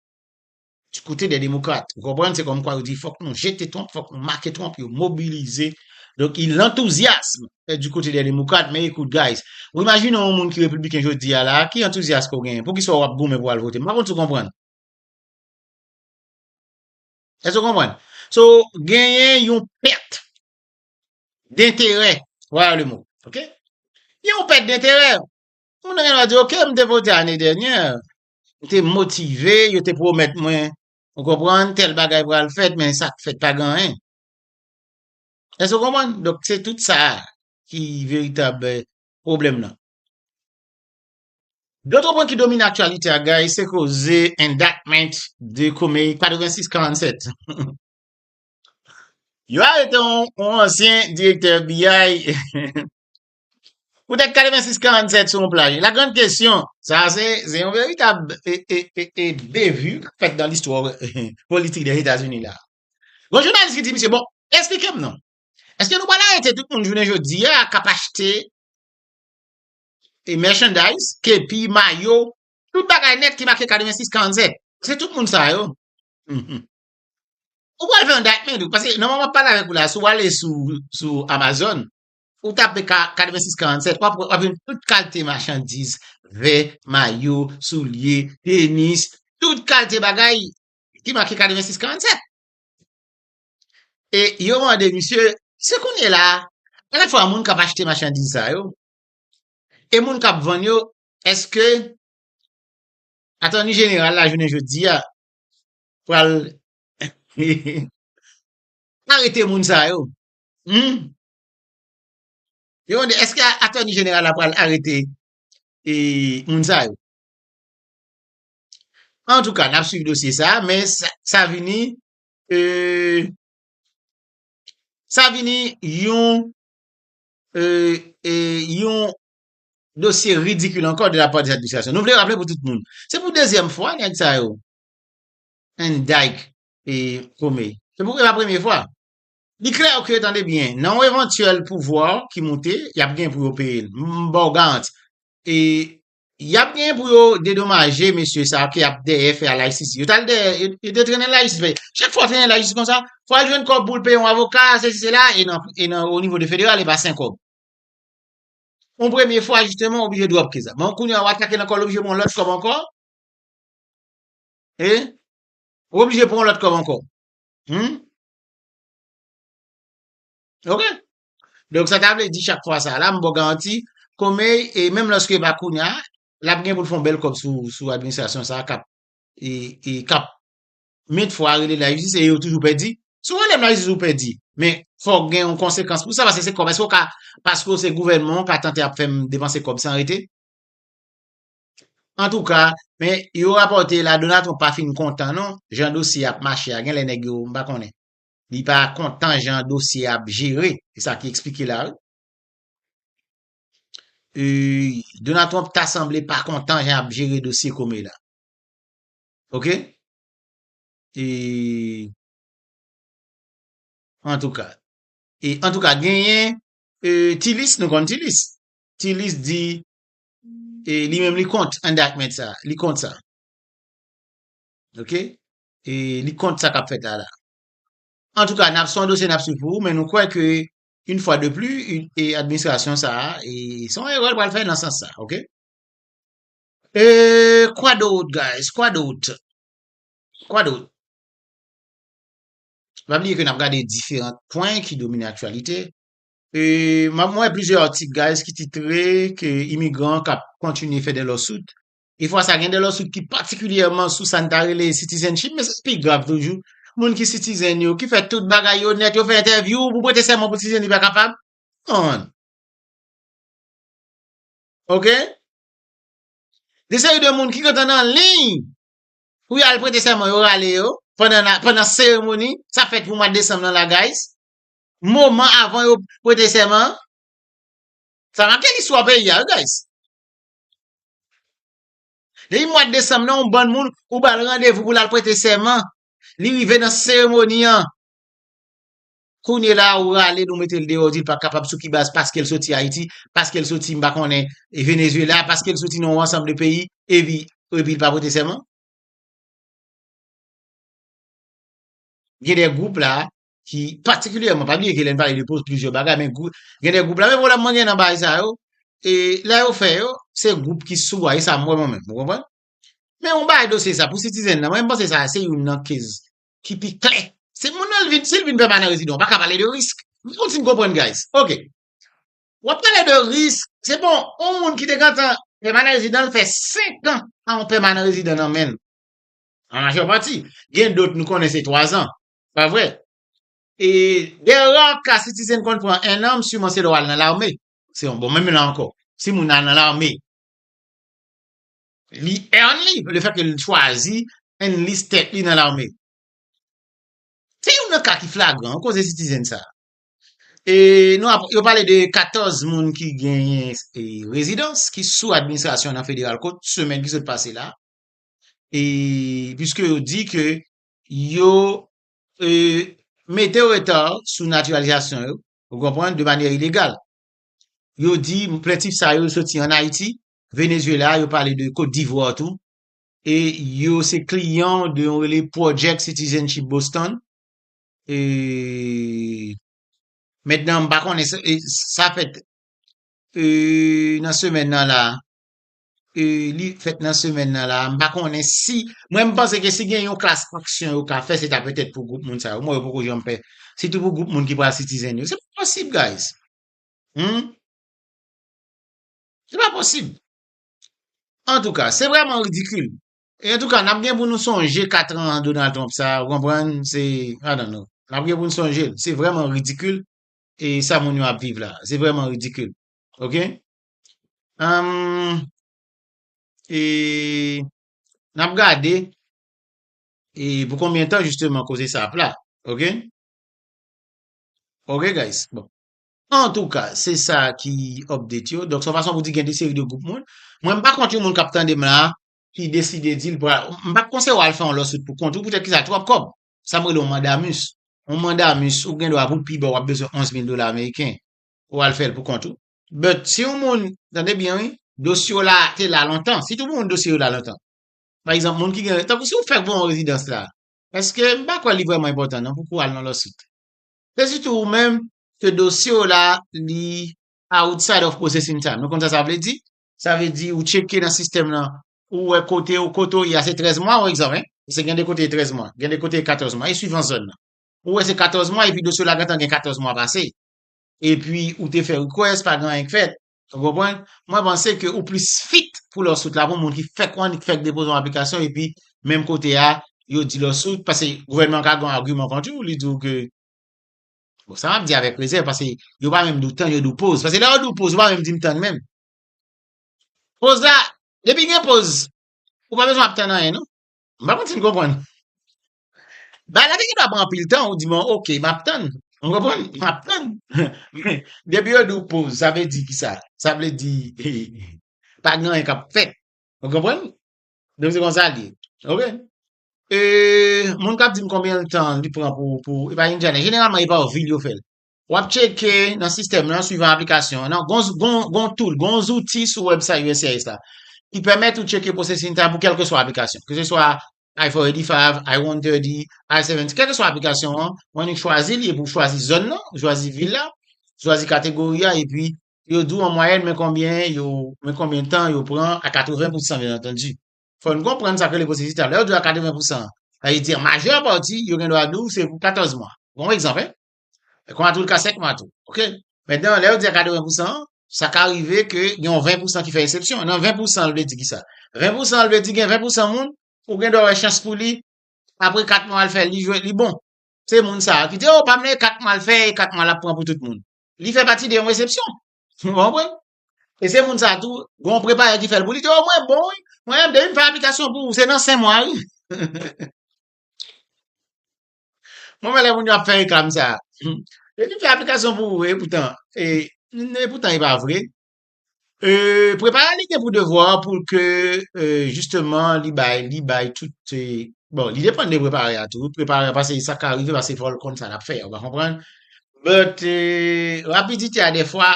Du kote dè demokrat, ou konprann se kòmkwa yo di fòk nou jete Trump, fòk nou make Trump, yo mobilize, donk il l'enthousiasme est du kote dè demokrat, men ekout guys, ou imajine yon moun ki repibliken jodi a la, ki antouzyas ke w genyen, poukisa w ap goumen pou w al vote, m pa konn si w konprann. Èske w konprann? So, genyen yon pèt denterè, voilà le mot, ok? Gen yon pèt denterè, moun nan gen dwa di ok, m te vote ane dènyè, m te motive, yo te pwomèt mwen, ou konprann, tèl bagay pral fèt, men sa k fèt pa gen anyen. Èske ou konprann? Donk, se tout sa ki veritab pwoblèm nan. Lòt pwen ki domine aktyalite a guys, se koze indictment de Comey 8647. Yo arete yon ansyen direktè FBI Poutèt 86 47 se yon plaj. La grande kesyon, sa a se yon veritab bevu k ap fèt nan listwa politik Dèzetazini la a. Gon jounalis ki di misye, bon, esplike m non, èske nou pral arete tout moun jounen jodi a k ap achte mèchandays, kepi, mayo, tout bagay nèt ki make 86 47? Se tout moun sa yo. Ou pral fè yon daytment ou, paske nan moman m ap pale avèk ou la a, si w ale sou Amazon, Ou tape 86 47 wap wè wap jwenn tout kalte machandiz, vè, mayo, soulye, tenis, tout kalte bagay ki make 86 47. E yo mande misye, se kounye la, alè fwa moun kap achte machandiz sa yo, e moun kap vann yo, eske atoni jeneral la jounen jodi a pral arete moun sa yo? Humm Yo mande, eske atoni jeneral la pral arete e moun sa yo? An tou ka, n ap swiv dosye sa, men sa vini, sa vini yon, yon dosye ridikil ankò de la pa de administrasyon. Nou vle raple pou tout moun, se pou dezyèm fwa nèg sa yo, Van Dijk e Prome, se pou e pa premye fwa. Li klè ke, tande byen, nan yon evantyèl pouvwa ki moute, y ap gen pou yo peye l. M ba w garanti. E y ap gen pou yo dedomaje mesye sa yo ki ap dèyè fè Laïcité. Yo t al dèyè, yo te trennen Laïcité. Chak fwa w trennen Laïcité kon sa, fò w al jwenn kòb pou w peye yon avoka, sesi sela, e nan, e nan onivo de federal e pa sen kòb. Yon premye fwa jisteman w oblije drop kes la. Bon, kounye a w atake nan kòl w oblije pran yon lòt kòb ankò. E, w oblije pran yon lòt kòb ankò. Hum? Ok. Donk sa ta vle di chak fwa sa la, m bò garanti, Komey, e menm lòske e pa kounye a, l ap gen pou l fè yon bèl kòb sou sou administrasyon sa a k ap e e k ap mèt fwa rele l lajistis e yo toujou pèdi. Si w rele m lajistis ou pèdi, men fòk gen yon konsekans pou sa paske se kòb. Èske w ka, paske w se gouvènman, w ka tante ap fè m depanse kòb san rete? Antouka, men yo rapòte la Donald Trump pa fin kontan non jan dosye ap mache a genlè nèg yo m pa konnen li pa kontan jan dosye ap jere e sa ki eksplike la wi. Ui Donald Trump ta sanble pa kontan jan ap jere dosye Comey la. Ok? E antouka e antouka genyen e Tilis nou konn Tilis. Tilis di e li menm li kont indictment sa, li kont sa. Ok? E li kont sa kap fèt la la. An tou ka, nap son dosye nap sou pou, men nou kwè ke yon fwa de pli, e administrasyon sa, e son e rèl pral fè nan sans sa, ok? E kwa dout guys, kwa dout? Kwa dout? Pa bliye ke nap gade diferant pwen ki domine aktualite, Mwen wè plizyè atik guys ki titre ke imigran kap kontinye fè de lawsuit. E fwa sa gen de lawsuit ki patikilyèman sou sa n ta rele citizenship men sa pi grav toujou. Moun ki citizen yo, ki fè tout bagay yo nèt, yo fè entèvyou pou prete sèman pou citizen li pa kapab. Come on. Ok? Gen seri de moun ki gentan nan liy pou yal prete sèman yo rale yo pandan seremoni sa fèt pou mwa desanm nan la guys. moman avan yo prete sèman an. Sa make listwa peyi a wi guys. Depi mwad desanm nan yon bann moun ou ba l randevou pou l al prete sèman, li rive nan seremoni an, kounye la ou rale l ou mete l deyò ou di l pa kapab sou ki baz paske l soti Ayiti, paske l soti m pa konnen Venezyela, paske l soti nan yon ansanm de peyi epi li pa prete sèman? Gen de gwoup la ki patikilyèman, pa bliye ke lè n pale de poz plizyè bagay, men gwoup, gen de gwoup la, men pwoblèm mwen gen nan bagay sa yo, e lè yo fè yo, se gwoup ki sou a, e sa m wè mwen menm, ou konprann? Men yon bagay dosye sa, pou sitizen nan, mwen panse sa a, se youn nan kez ki pi kle. Se moun nan, si l vin pèmanan rezidan, ou pa ka pale de risk. M kontinye konprann guys. Ok. W ap pale de risk, se bon, yon moun ki te gentan pèmanan rezidan, l fè 5 an a yon pèmanan rezidan nan men l. An majè pati. Gen dot nou konnen se 3 an. Pa vre? E dè ra ka sitizen konn pran 1 an, m siman se lè w al nan lame. Se yon bon menm la ankò. Si moun nan al nan lame, li earn li, le fè ke li chwazi enlist tèt li nan lame. Se youn nan ka ki flagran an koze sitizen sa. E nou ap, yo pale de 14 moun ki genyen rezidans, ki sou administrasyon nan federal kot semen ki sot pase la. E, piske yo di ke yo mete reta sou natiralizasyon yo, ou konprann, de manyè ilegal. Yo di plentif sa yo soti an Ayiti, Venezuela, yo pale de Kot Divwa tou, e yo se kliyan de yon rele Project Citizenship Boston, e mètnan m pa konnen, sa fèt nan semèn nan la, li fèt nan semèn nan la, m pa konnen si, mwen m panse ke si gen yon klas aksyon yo ka fè, se ta petèt pou gwoup moun sa yo, m wè yo poko janm fè, sitou pou gwoup moun ki pral sitizen yo, se pa posib guys, humm, se pa posib, antouka, se vreman ridikil, e antouka n ap gen pou nou sonje 4 an Donald Trump sa, ou konprann, se, I don't know, n ap gen pou nou sonje l, se vreman ridikil, e sa moun yo ap viv la, se vreman ridikil, ok. Humm e nap gade e pou konbyen tan jisteman koze sa ap la ok ok guys bon antouka se sa ki update yo donk se yon fason pou di gen de seri de gwoup moun mwen m pa kont yon moun kap tande m la ki deside di l pral m pap konseye w al fè yon lawsuit pou kont ou poutèt kisa twòp kòb sa m rele yon mandamus yon mandamus ou gen dwa pou l pi ba w wap bezwen 11000 dola ameriken ou al fè l pou kont ou But si yon moun, tande byen wi, dosye w la te la lontan, si tout moun dosye yo la lontan, pa egzanp moun ki gen, tankou si ou fèk voye yon rezidans la, èske, m pa kwè li vrèman enpòtan non pou pou al nan lawsuit. Se sitou ou menm ke dosye w la li outside of processing time. Nou konn sa sa vle di? Sa vle di ou tcheke nan sistèm lan, ou wè kote ou, kote ou ye a se 13 mwa ou egzanp hein, pase gen de kote e 13 mwa, gen de kote e 14 mwa, e swivan zòn lan. Ou wè se 14 mwa epi dosye w la gentan gen 14 mwa pase. epi ou te fè request pa gen anyen k fèt ou konprann mwen panse ke ou plis fit pou lawsuit la pou moun ki fèk wè ni k fèk depoze yon aplikasyon epi menm kote a yo di lawsuit pase gouvènman ka gen yon agiman kont ou li di ou ke bon sa map di avèk rezèv pase yo pa menm di w tann yo di w poz pase lè yo di w poz yo pa menm di m tann menm poz la depi gen poz ou pa bezwen ap tann anyen non m pa konn si n konprann. Bagay la te gen dwa pran anpil tan, ou di bon ok map tann, ou konprann, map tann. Men, depi yo di w poz, sa vle di ki sa? Sa vle di, pa gen anyen kap fèt. Ou konprann? Donk se konsa l ye. Ok. E, moun kap di m konbyen l tan li pran pou, pou, e pa Indiana. Jeneralman e pa ou vil yo fè l. Wap tcheke nan sistèm lan, swivan aplikasyon an. Nan, gon, gon, gon tool, gon zouti sou website uscis la ki pèmèt ou tcheke processing time pou kèlkeswa aplikasyon. Keseswa I-485, I-130, I-70, kèlkeswa aplikasyon an, mande ou chwazi li epi ou chwazi zòn nan, ou chwazi vil la, ou chwazi kategori a epi yo di w an mwayèn men konbyen yo, men konbyen tan yo pran a 80 pousan byen antandi. Fò n konprann sa k rele pwosesis la. Lè yo di w a 80 pousan, sa vle di an majè pati yo gendwa di w se pou 14 mwa. Bon egzanp, hein? E kon atou l ka sèk man tou. Ok? Mètnan, lè yo di akadò 20 pousan, sa ka rive ke gen yon 20 pousan ki fè esepsyon. Nan 20 pousan l vle di ki sa? 20 pousan l vle di gen 20 pousan moun, ou gen dwa wè chans pou li, apre 4 mwa l fè, li jwe, li bon. Se moun sa a ki di, o, pa m nan e 4 mwa l fè, e 4 mwa l ap pran pou tout moun. Li fè pati de yon esepsyon. Nou konprann? E se moun sa a tou, gen yon prepayè ki fè l pou li, di, o, mwen bon wi, mwen menm depi m fè aplikasyon pou ou, se nan 5 mwa wi. Mwen wè lè moun yo ap fè reklam sa. Yo te fè aplikasyon pou ou e poutan. E poutan e pa vre. Prepare li gen pou devwa pou ke jisteman li bay, li bay tout e. Bon, li depan de prepare a tou. Prepare a pase sa ka rive pase fòl konn sa l ap fè. Ou va konprann. But, rapidite a defwa,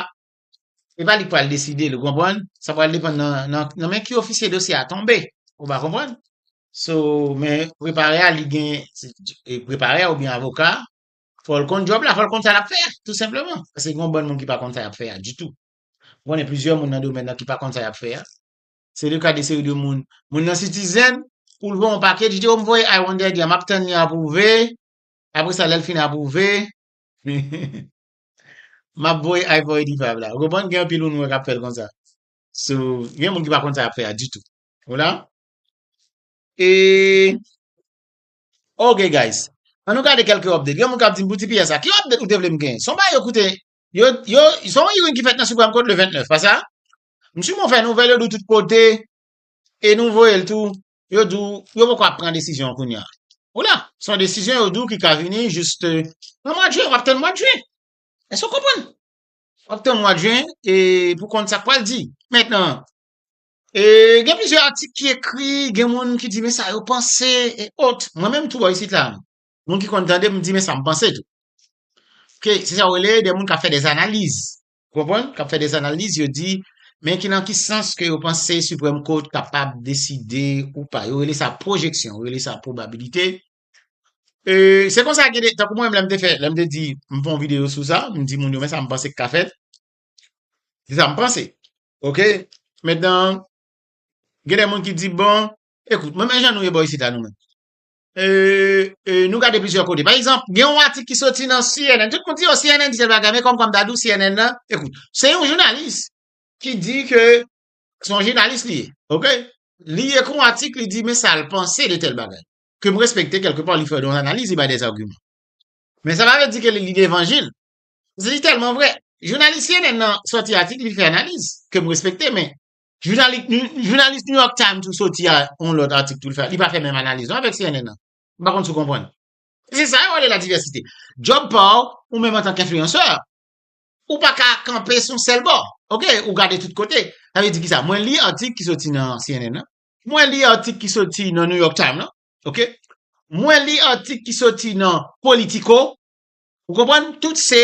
Se pa li k pral deside l ou konprann, sa pral depann nan men ki ofisye dosye a tonbe ou ba konprann. So men prepare a li gen prepare a oubyen avoka fò l konn djòb la, fò l konn sa l ap fè a tou senpleman paske gen yon bann moun ki pa konn sa y ap fè a ditou. M konnen plizyè moun nan domèn nan ki pa konn sa y ap fè a. Se le ka de seri de moun. Moun nan Citizen pou l voye yon pake li di o m voye I wonder di a m ap tann li apwouve apre sa lè l fin apwouve Map voye ivory diva la. Ou konprann gen anpil moun wè kap fèl konsa. So, gen moun ki pa konn sa yap fè a ditou. Ou la? E Ok guys, an nou gade kelke update. Gen moun kap dim pou tps la, ki update ou te vlem gen? Son bagay yo koute yo yo son hearing ki fèt nan Supreme Court le 29, pa sa? Msouman fè nouvèl yo di w tout kote e nou voye l tou yo di w, yo poko ap pran desizyon an kounye a. Ou la, se yon desizyon yo di w ki ka vini jis nan mwa jyen, w ap tann mwa jyen. Èske w konprann? W ap tann mwa jyen e pou konn sa k pral di. Mentnan, e gen plizyè atik ki ekri, gen moun ki di men sa yo panse e ot. Mwen menm tou bò isit la, moun ki konn tande m di men sa m panse tou. Ke se sa w rele de moun k ap fè dèzanaliz. Ou konprann? K ap fè des analiz, yo di, men ki nan ki sans ke yo panse Supreme Court kapab deside ou pa. Yo rele sa pwojeksyon, yo rele sa pwobabilite. E, se konsa gen de, tankou mwen menm lè m te fè, lè m te di, m fè yon videyo sou sa, m di moun yo men sa m panse k ka fèt. Se sa m panse. Ok? Mentnan, gen de moun ki di, bon, ekout, mwen men jan nou ye bò isit la nou menm. nou gade plizyè kote. Pa egzanp, gen yon atik ki soti nan CNN. Tout moun di yo oh, CNN di tel bagay, men kom kom dadou CNN nan, ekout, se yon jounalis ki di ke son jounalis li, ok? Li ekri yon atik, li di men sa l panse de tel bagay. Ke m respekte kelke pa li fè don analiz, li bay des arguman. Men sa pa vle di ke li lide evanjil. Se li telman vre. Jounalis CNN nan soti atik, li fè analiz, ke m respekte, men Jounalis New York Times tou soti a yon lòt atik tou li fè, li pa fè menm analiz non avèk cnn nan. M pa konn si w konprann. Se sa yo rele la divèsite. Djòb pa w, ou menm antank enfliyansè, ou pa ka kanpe sou yon sèl bò. Ok, ou gade tout kote. Sa vle di ki sa? Mwen li atik ki soti nan cnn nan. Mwen li atik ki soti nan New York Times nan. Ok. Mwen li atik ki soti nan Politico. Ou konprann? Tout se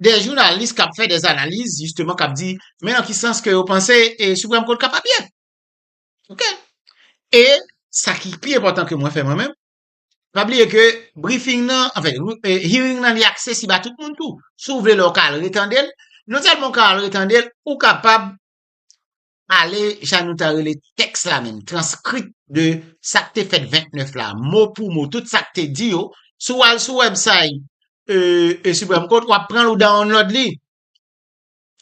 de jounalis kap fè des analiz jisteman kap di men nan ki sans ke yo panse Supreme Court kapab ye. Ok. E sa ki pi enpòtan ke mwen fè mwen menm, pa bliye ke briefing nan, anfen, hearing nan li aksesib a tout moun tou. Si w vle la w ka al retande l, non sèlman w ka al retande l, ou kapab pale jan nou ta rele tèks la menm, transkript de sa k te fèt 29 la, mo pou mo, tout sa k te di yo, si w al sou wèbsay e Supreme Court, w ap pran l ou download li.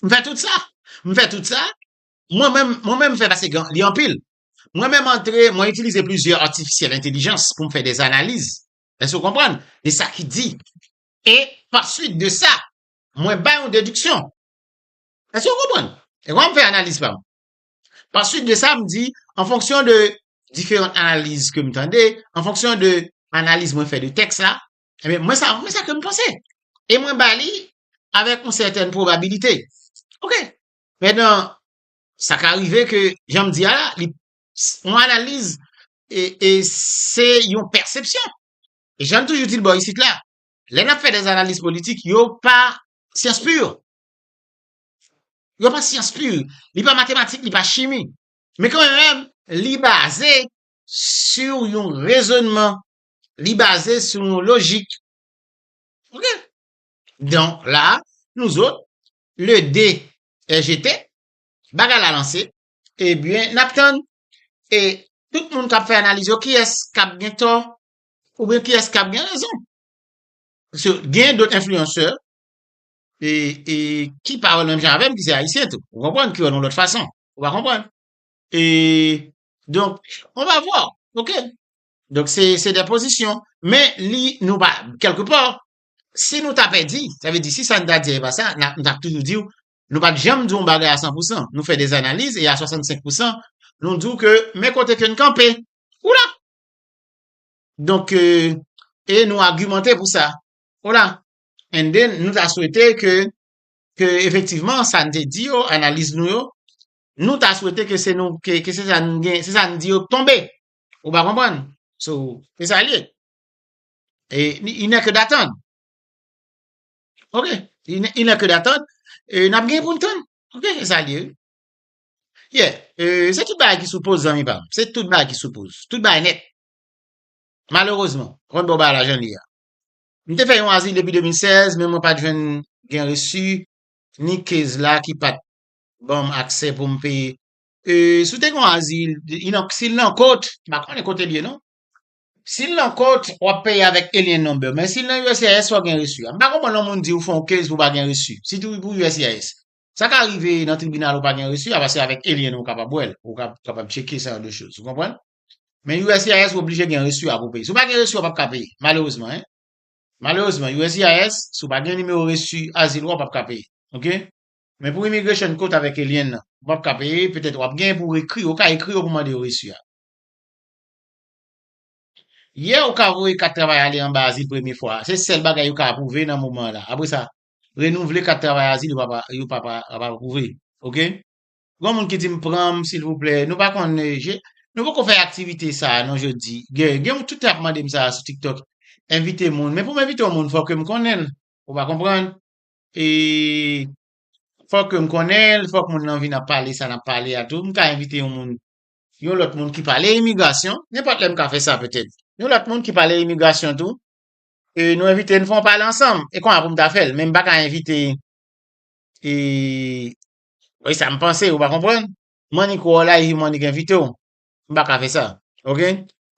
M fè tout sa. M fè tout sa. Mwen menm, mwen menm fè pase gen, li anpil. Mwen menm antre, mwen itilize plizyè artificiel intelligence pou m fè des analiz. Èske w konprann? De sa ki di. E, pa swit de sa, mwen bay yon dediksyon. Èske nou konprann? E kòman m fè analiz pa m? Pa suit de sa, m di, an fonksyon de diferan analiz ke m tande, an fonksyon de analiz mwen fè de tèks la, enben, mwen sa, mwen sa ke m panse. E mwen ba li avèk yon sètèn pwobabilite. Ok. Mètnan, sa ka rive ke, jan m di a la, li, yon analiz, e, e se yon pèsepsyon. E jan n toujou di l bò isit la, lè n ap fè dè analiz politik, yo pa syans pur. Yo pa syans pur, li pa matematik, li pa chimi. Men kan menm, li baze sur yon rezonman, li baze sur yon lojik. Ok? Don, la, nou zot, le dé è jeté, bagay la lanse, e byen, nap tann, e tout moun kap fè analiz yo, kiyès kap gen tò, ou byen kiyès kap gen rezon. Paske gen dot enfliyansè, e, e, ki pa wè l menm jan avè m ki se Ayisyen tou. Ou konprann? Ki wè l yon lòt fason. Ou pa konprann? E, donk, on va voir. Ok. Donk, se, se de pozisyon. Men, li, nou pa, kèlke pò, si nou ta pèdi, sa vle di si sa n ta di a e pa sa, n ap, m t ap toujou di w, nou pa t janm di yon bagay a san pou san. Nou fè des analiz e a 65 pou san, nou di w ke men kote ke n kanpe. Oula! Donk, e nou agimante pou sa. Oula! And then, nou ta swete ke, ke efektivman sa n te di yo, analiz nou yo, nou ta swete ke se nou, ke se sa nou gen, se sa n di yo k tonbe. Ou pa konprann? So, se sa l ye. E, il n'est que d'attendre. Ok. Il n'est, il n'est que d'attendre. E, n ap gen pou n tann. Ok, se sa l ye. Yeah. E, se tout bagay ki sou poz, zanmi pa m. Se tout bagay ki sou poz. Tout bagay nèt. Malerezman. Ou konn bon bagay la jan l ye a. M te fè yon azil depi 2016 men mwen pa t jwenn gen resi ni kezz la ki pat ban m aksè pou m peye E si w te gen yon azil si l nan kot m pa konnen kote l ye non si l nan kot w ap peye avèk alien number men si l nan uscis fò w gen resi a M pa konprann lè yon moun di ou fè yon kezz pou w pa gen resi sitou pou uscis Sa ka rive nan tribinal ou pa gen resi a paske avèk alien ou kapab wè l ou kapab tcheke sa yon de choz ou konprann Men uscis ou oblije gen resu a pou peye. Si ou pa gen resu a ou pap ka peye. Malerezman hein. Malerezman uscis si ou pa gen nimewo resu azil ou a ou pap ka peye. Ok. Men pou immigration court avek alien nan. Ou pap ka peye. Petet wap gen pou ekri yo. Ou ka ekri yo pou mande yo resu a. Yeah ou ka voye kat travay ale anba azil premye fwa a. Se sel bagay yo ka apwouve nan moman an la. Apre sa, renouvle kat travay azil yo pa yo pa pa apwouve. Ok. Gon moun ki dim pranm silvouplè nou pa konn je nou poko fè aktivite sa non jodi gen gen moun tout tan ap mandem sa sou tiktok envite moun men poum envite yon moun fò kem konnenl ou pa konprann e fò kem konnenl fòk moun nan vin ap pale sa nap pale a tou mka envite yon moun yon lòt moun ki pale imigrasyon nenpòt lè mka fè sa petèt yon lòt moun ki pale imigrasyon tou e nou envite nou fon pale ansanm e konwa poum ta fèl men mpaka envite e Oye sa m panse, ou pa konprann? Monique wè w la epi Monique envite w. M pa ka fè sa. Ok?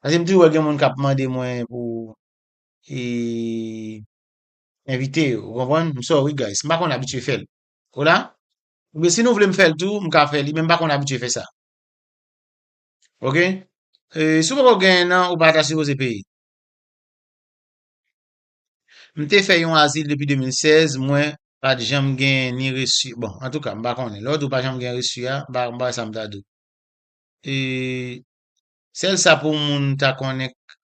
Paske m toujou wè gen moun k ap mande mwen pou e envite yo. Ou konprann? M sòri guys. M pa konn abitye fè l. Ou la? Oubyen si nou vle m fè l tou, m ka fè li men m pa konn abitye fè sa. Ok? E si w poko genyen nan, ou pa ta sipoze peye. M te fè yon azil depi 2016, mwen pa t janm gen ni resu, bon, antouka, m pa konnen. Lè w di w pa janm gen resu a, m pa m pa wè sa m ta di w. E, sèl sa pou moun ta konnen k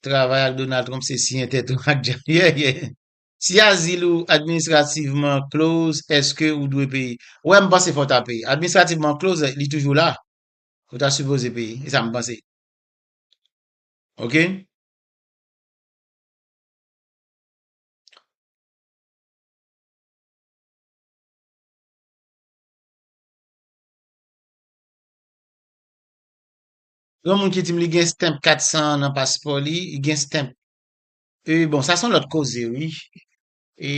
travay ak Donald Trump se siyen tèt ou ak djab. Yè, yè. Si azil ou administrativman close, èske ou dwe peye? Wè, m panse fò w ta peye. Administrativman close, li toujou la. Ou ta sipoze peye. Se sa m panse. Ok? Yon moun ki di m li gen stamp 400 nan paspò li, li gen stamp. E bon, sa son lòt koze wi. E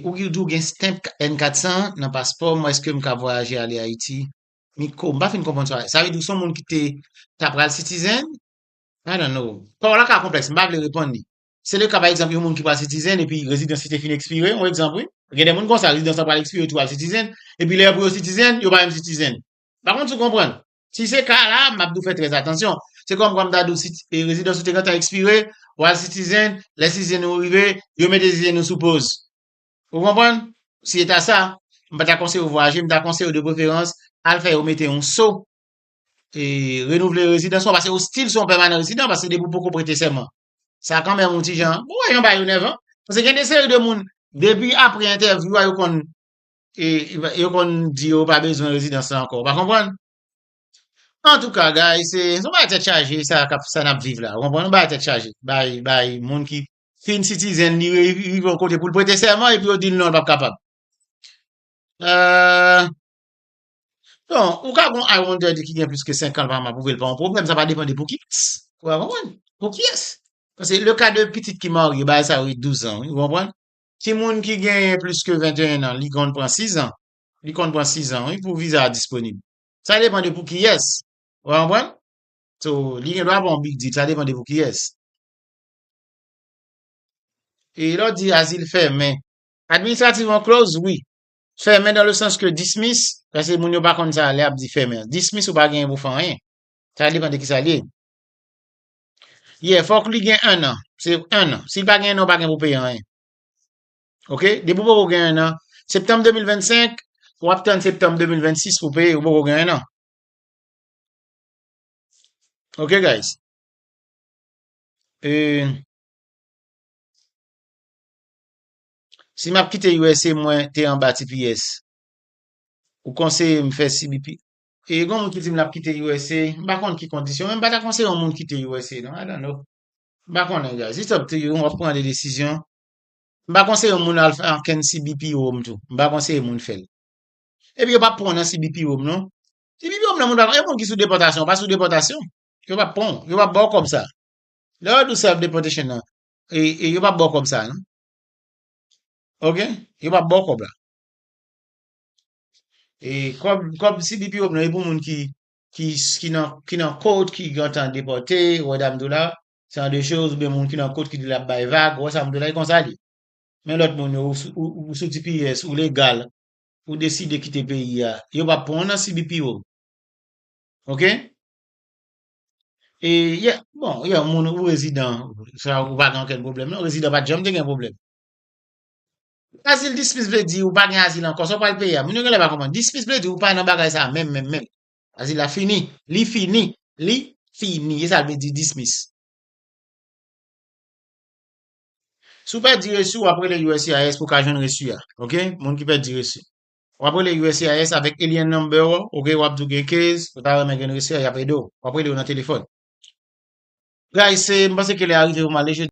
ou ki di ou gen stamp N400 nan paspò, mwen eske m ka vwayaje ale Ayiti? Miko, m pa fin konprann sa. Sa vle di ou son moun ki te ta pral sitizen? I don't know. Pawòl la ka konplèks, m pa vle reponn li. Se le ka pa egzanp yon moun ki pral sitizen epi rezidans li te fin ekspire, yon egzanp wi. Gen de moun konsa, rezidans la pral ekspire epi yo al sitizen, epi lè pou yo sitizen, yo pa menm sitizen. Pa konn si w konprann. Si se ka la, m ap di w fè trè atansyon. Se kòm kwa m ta di w si rezidans ou te gentan ekspire, w al sitizen, lè sitizen ou rive, yo mete sitizen ou sou poz. Ou konprann? Si se ta sa, m pa ta konseye w vwayaje, m ta konseye w de preferans al fè yo mete yon so e renouvle rezidans ou, paske ou stil son pèmanan rezidan, paske depi ou poko prete sèman, sa kan menm yon ti jan, ou wè jan bagay yo nèvan, paske gen de seri de moun, depi apre entèvyou a yo konn, yo konn di yo pa bezwen rezidans la ankò, ou pa konprann? Antouka guys, se yon bagay tèt chaje sa kap, sa nap viv la, ou konprann, yon bagay tèt chaje, bay, bay moun ki fin sitizen li rive yon kote poul prete sèman epi yo dil non li pap kapab. Eehh. Don, ou ka gon I wonder de ki gen plis ke 5 an l pa apwouve l pa yon pwoblèm, sa va depan de pou ki kès. Ou ka konprann? Pou kiyès? Paske le ka de pitit ki marye, bagay sa yo e 12 an wi, ou konprann? Ki moun ki genyen plis ke 21 an, li konn pran 6 an. Li konn pran 6 an wi pou viza a disponib. Sa depan de pou kiyès. Ou ka konprann? So, li gen dwa ba w yon big deal, sa depan de pou kiyès. E lè w di azil fèmen. Administrativman closed, wi. Fèmen dan le sans ke dismis, paske moun yo pa konn sa lè ap di fèmen. Dismis ou pa genyen pou fè anyen. Sa depan de ki sa li ye. Ye, fòk li gen 1 an. Se 1 an. Si l pa gen 1 an, ou pa gen pou peye anyen. Ok? Depi ou poko gen 1 an, septanm 2025, w ap tann septanm 2026 pou peye, ou poko gen 1 an. Ok guys? E... Si map kite usa mwen te anba tps ou konseye m fè cbp? E gon moun ki di m lap kite usa m pa konn ki kondisyon men m pa ta konseye yon moun kite usa non I don't know m pa konnen guys it's up to you wap pran de desizyon m pa konseye yon moun al fè ankenn cbp home tou m pa konseye moun fèl epi yo pap pran w nan cbp home non cbp home nan moun pa yon moun ki sou depòtasyon ou pa sou depòtasyon yo pap pran w yo pap baw kòb sa lè yo di w self deportation nan e yo pap baw kòb sa non Ok, yo pa baw kob la. E kob kob CBPO nan e pou moun ki ki ki nan ki nan kot ki gentan depote, ou wè sa m di w la, se an de choz ou byen moun ki nan kot ki di lap bay vag, ou wè sa m di w la e konsa li. Men lòt moun yo ou sou tps, ou legal, ou deside kite peyi a, yo pap pran w nan CBPO. Ok? E yè, bon, yè moun ou rezidan, sa ou pa gen anken pwoblèm non, rezidan pa janm te gen pwoblèm. Azil dispis vle di ou pa gen azil ankò, sa ou pral peye a, moun yo genlè pa konprann. Dispis vle di ou pa nan bagay sa menm menm menm. Azil la fini, li fini, li fini, e sa l vle di dismis. Si ou pèdi resi w ap rele uscis pou ka jwenn resi a, ok, moun ki pèdi resi. Wap rele uscis avèk alien number ou, ok wap di ou gen case, ou ta renmen gen reseau yap ede ou. Wap rele yo nan telefòn. Guys se m panse ke lè a rive pou m ale.